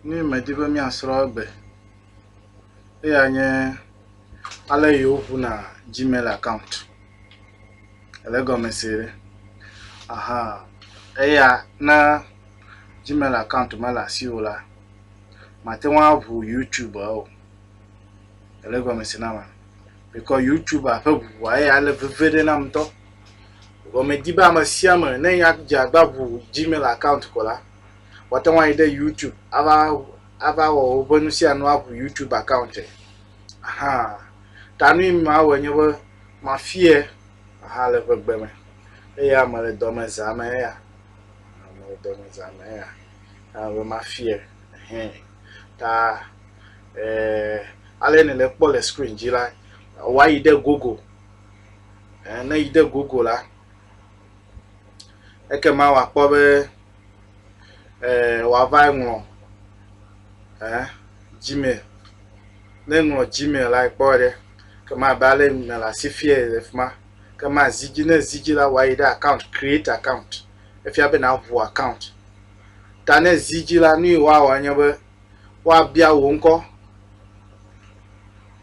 nu yi medi be míasrɔ̃ egbe. Eya nye ale yi woŋuna Gmail account le egɔme se ɖe. Aha eya ne Gmail account mele asiwò o la, màte ŋu aŋu Youtube o le egɔme se na mea? Mikɔ Youtube ƒe ŋuŋua eya le veve ɖe nam ŋutɔ. Vɔ medi be ame sia ame ne ya dze agba ʋu Gmail account ko la, wòate ŋu ayi ɖe YouTube ava ava wɔ woƒe nu sia nu aʋu YouTube account. Aha. Ta nu yi mawɔe nye be mafie aha le ƒe gbe me. Eya mele dɔ me zã me eya. Mele dɔ me zã me eya. Aa, be mafie. Hɛn. Ta eh, ale ne le kpɔ le screen dzi la, wòayi ɖe Google. eh, ne yi de gogo la, ekema wòakpɔ be eh, wòava ŋlɔ eh, Gmail. Ne ŋlɔ Gmail la kpɔ ɖe, kema abe ale email la si fia le fi ma, kema zi dzi, ne zi dzi la wòayi ɖe account, create account. Efia be nàʋu account. Ta ne zi dzi la, nu yi wòawɔ nye be, woabia wò ŋkɔ.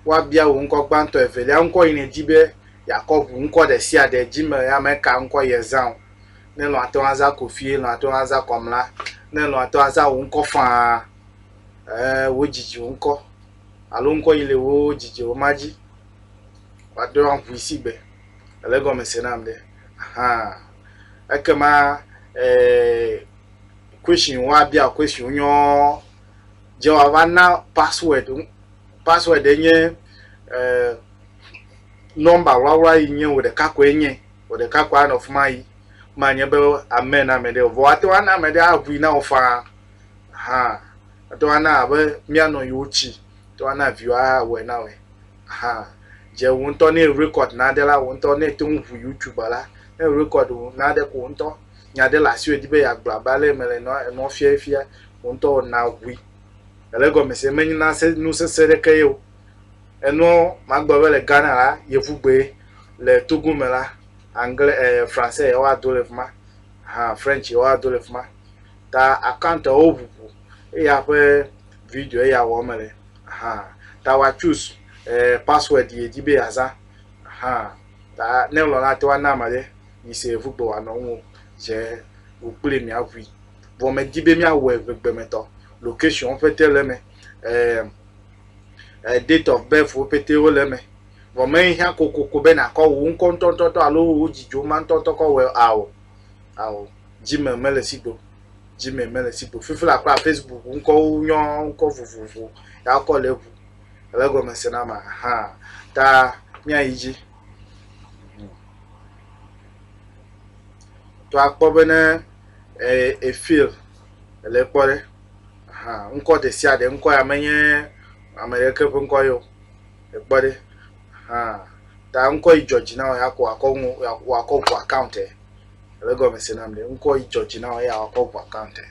Woabia wò ŋkɔ gbãtɔ, evelia ŋkɔ yi nèdi be yeakɔ ŋu ŋkɔ ɖe sia ɖe dzi me ame ka ŋkɔ yezã o. Ne elɔ̃ ate ŋu azã Kofi, elɔ̃ ate ŋu azã Kɔmla, ne elɔ̃ ate ŋu azã wò ŋkɔ faa. Ɛɛ, wodidi wò ŋkɔ alo ŋkɔ yi le woo didi wò ma dzi. Woaɖo aŋui sigbe. Èle egɔme se nam ɖe? Ahaa. Ekema ɛɛ. question woabia wò question nyɔɔ, dze wòava na password wo. Password ye nye eh, nɔmba wlawla yi nye wò ɖeka koe nye, wò ɖeka koe anɔ fi ma yi manye be amen na ame ɖe o. Vɔ woate ŋu ana ame ɖe aʋui na wò faa ahan. Woate ŋu ana abe míanɔ yewo tsi, woate ŋu ana viwò awɔe na wòe ahan. Dze wò ŋutɔ ne erecord nane la, wò ŋutɔ ne ète ŋu ʋui YouTube la, ne erecord wò nane ko wò ŋutɔ nya aɖe le asiwò edi be yeagblɔ abe ale mele enɔa enɔa fia efia wò ŋutɔ wò na ʋui ele egɔme se menye na se nu sese ɖeke ye o enɔ magblɔ be le Ghana la yevu gbe le Togo me la anglais eh, français ye woa do le fima ha French ye woa do le fima ta account wo ʋuʋu eya ƒe video eya wɔ me le ha ta wa choose eh, password ye di be azã ha ta ne lɔ la te wa na ma de mise ŋugbe wòanɔ ŋu o, dze ŋu kpli mìaŋui. Vɔ medi be míawɔe ŋegbemetɔ. Loketsiɔn ƒete le eme, e date of birth wo ƒete wole eme. Vɔ mehiã kokoko be nàkɔ wò ŋkɔ ŋutɔŋutɔ alo wò dzidzio ma ŋutɔŋutɔ kɔ wɔe ao, ao. Gmail mele esi gbe o. Gmail mele esi gbe o. Fifila kura Facebook ŋkɔwo nyɔ ŋkɔ vovovo ya wokɔ le eŋu. Ele egɔme se na ma? Ahan. Ta míayi dzi. To akpɔ be ne e fail le kpɔ ɖe hã ŋkɔ ɖe sia ɖe ŋkɔ ya menye ame ɖeke ƒe ŋkɔ ye o. Ekpɔ ɖe hã ta ŋkɔ yi dzɔ dzi na wò ya ko akɔ nu wakɔ ŋu account e. Ele egɔme se nam ɖe ŋkɔ yi dzɔ dzi na wò eya wakɔ ŋu account e.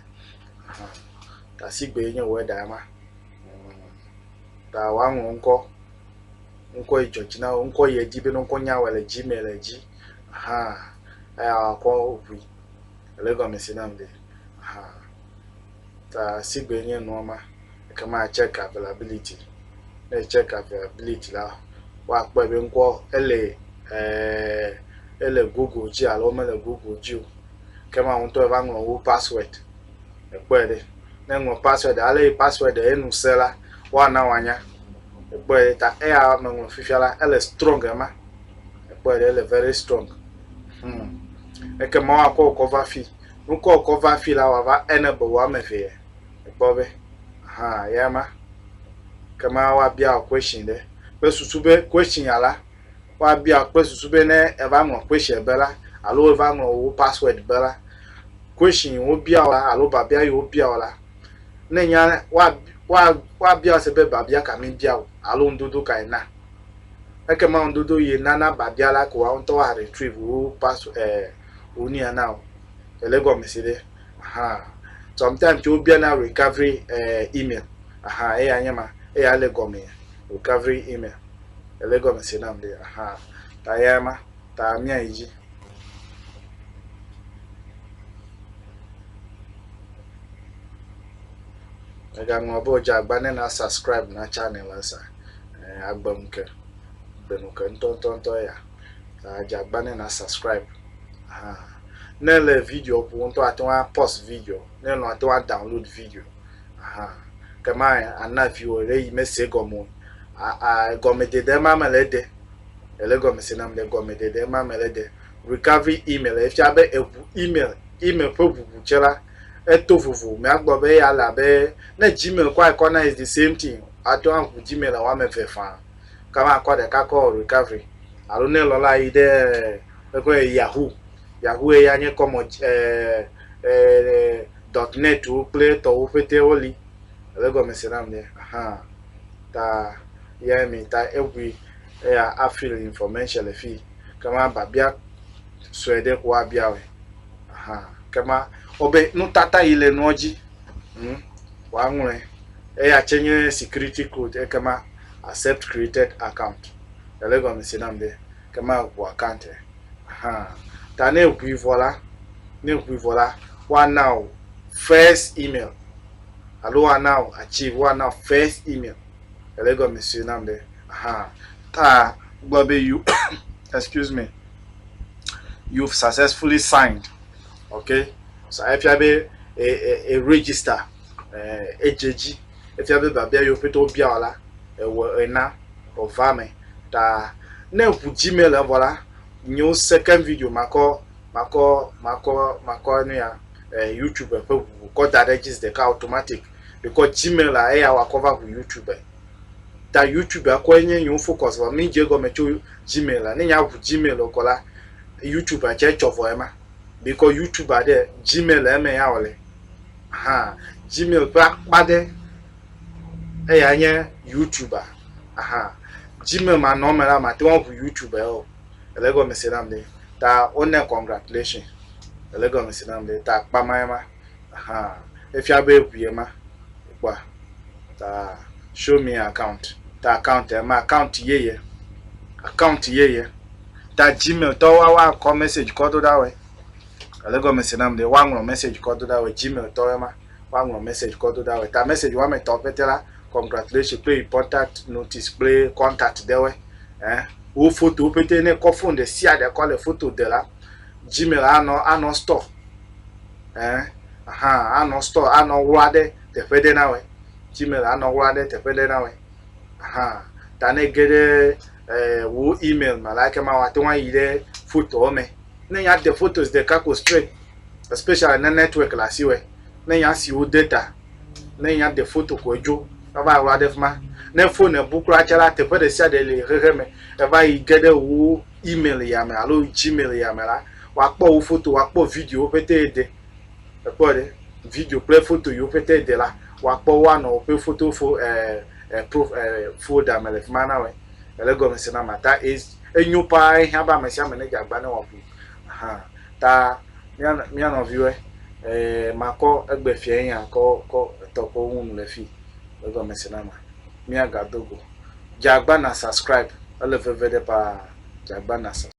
Tasigbe enye wɔ eɖa ema ta woaŋlɔ ŋkɔ. ŋkɔe dzɔ dzi na wo, ŋkɔ yɛ di be ne ŋkɔ nya wɔe le dzi mɛ le dzi ahan eya kɔ ŋui. Ele gɔme se nam be ahan. Ta sigbe nye nua ma, eke ma check availability. Ne check availability la, woakpɔe be ŋkɔ ele eh, ele Google dzi alo mele Google dzi o. Ke ma ŋutɔ va ŋlɔ wo password. Ekpɔe ɖe. Ne ŋlɔ password ale yi password enu se la, woana wòanya. Èkpɔe ɖe ta eya meŋlɔ fifia la ele strong ema. Èkpɔe ɖe ele very strong. Hmm. Ekema woakɔ wò kɔ va fi. Wokɔ wò kɔ va fi la wòava enable wò ame evee. Èkpɔ be ha ya ma. Kema woabia wò question ɖe kple susu be question ya la woabia wò kple susu be ne eva ŋlɔ question be la alo eva ŋlɔ wò password be la question wobia wò la alo biabia yi wobia wò la Ne nya woabia se be biabia ka mi bia o alo ŋdodo ka yi na. Ekema ŋdodo yi nana biabia la ko woawo ŋutɔ woa retrieve wo pass eh, wo nia na o. Ele gɔme si ɖe. Aha. Sometimes tso wobia na recovery eh, email. Aha, eya nye ma. Eya le gɔme recovery email. Ele gɔme si nam ɖe. Aha. Ta eya ma. Ta miayi dzi. Egaŋlɔ be wodze agba ne na subscribe na channel la sa. Eh, agbe nu ke. Agbe nu ke ŋutɔŋutɔŋutɔ ya. Ta dze agba ne na subscribe. Ha. Ne le video ƒo ŋutɔ ate ŋu apɔs video. Ne lɔ ate ŋu download video. Ha. Kema ana viwo ɖe yi mese gɔme o. A, a gɔmedede ma mele ede. Ele gɔmese nam ɖe gɔmeɖeɖe ma me le ɖe. Recovery email efia be eʋu email, email ƒe ʋuʋu tse la, eto vovo. Mìagblɔ be eya le abe ne Gmail kɔ ekɔ na is the same thing. Ate ŋu aʋu Gmail le woame eve fã. Ke makɔ ɖeka kɔ o recovery. Alo ne lɔla yi ɖe eƒe Yahoo, Yahoo eya nye kɔmɔ dɔt nɛtwo kple etɔwo ƒete woli. Ele gɔmese nam ɖe? Ahaa. ta yɛ mi ta egui eya a fill information le fii kema biabia sue ɖe ko abia wɔe ahan kema wobe nutata yi le nua dzi hm woaŋlɔe eya tse nye security code ekema accept created account ele gɔme se nam be kema eŋu account e ahan ta ne eŋui vɔ la ne eŋui vɔ la woana o first email alo woana wò achieve, woana wò first email. Ele egɔme sue nam ɖe. Aha. Ta gblɔ be you, excuse me, you've successfully signed. Okay. So efia be e, e, e register, e, edze dzi. Efia be biabia yewo pete wobia wò la, ewɔ ena wòva me. Ta ne ŋu Gmail evɔ la, nyo second video makɔ makɔ makɔ makɔ nu ya. eh, YouTube ƒe ʋu wòkɔ da ɖe edzi zi ɖeka automatic ɖekɔ Gmail la eya wakɔ va ʋu YouTube ta YouTube akɔe nye yewo focus vɔ mi dze gɔme tso Gmail la ne nya ʋu Gmail kɔ la YouTube atsɛ tsɔ vɔ ema bikɔ YouTube aɖe Gmail le eme ya wòle hã Gmail ƒe akpa aɖe eya nye YouTube aha Gmail manɔ me la mate ŋu ʋu YouTube o. Ele egɔme se nam be ta wonɛ congratulation. Ele egɔme se nam be ta akpa ma ye ma. Ahan. Efia be eŋu ye ma. Kpɔa? Ta show me account. Ta account ye ma. Account yeye. Account yeye. Ta Gmail tɔ wa wa kɔ message kɔ do ɖa wɛ. Ele egɔme se nam be wa ŋlɔ message kɔ do ɖa wɛ. Gmail tɔ ye ma. woaŋlɔ message kɔ do ɖa wɛ ta message wame etɔ̃ pete la congratulation kple important notice kple contact ɖe wɛ eh wo fotowo pete ne kɔ phone ɖe sia ɖe kɔ le foto de la gmail anɔ anɔ store eh aha anɔ store anɔ wlɔ ɖe teƒe ɖe na wɛ gmail anɔ wlɔ ɖe teƒe ɖe na wɛ aha ta ne ge ɖe eh wo email me la ke ma wa te ŋu ayi ɖe fotowo me ne nya de photos ɖeka ko straight especially ne network le asi wɛ, ne nya si wo de ta, ne nya de foto ko edzo eva wla ɖe fima. Ne phone ebu kura tsa la teƒe ɖe sia ɖe le xexe me eva yi ge ɖe wo email ya me alo gmail ya me la, wa kpɔ wo foto, wa kpɔ video wo pete ye de. Ekpɔ ɖe? Video kple foto yiwo pete ye de la, wa kpɔ wo anɔ woƒe foto fo e e pro e folder me le fima na wɛ. Ele gɔme se na ma ta enyo paa ehiã be ame sia ame ne dze agba ne wa ƒu. Aha ta mía mía nɔviwɔe ee makɔ egbe fiae nya kɔ kɔ etɔ kɔ ŋu le fi egɔme se na ma mía ga do go dza gba na subscribe ele veve ɖe paa dza gba na subscribe.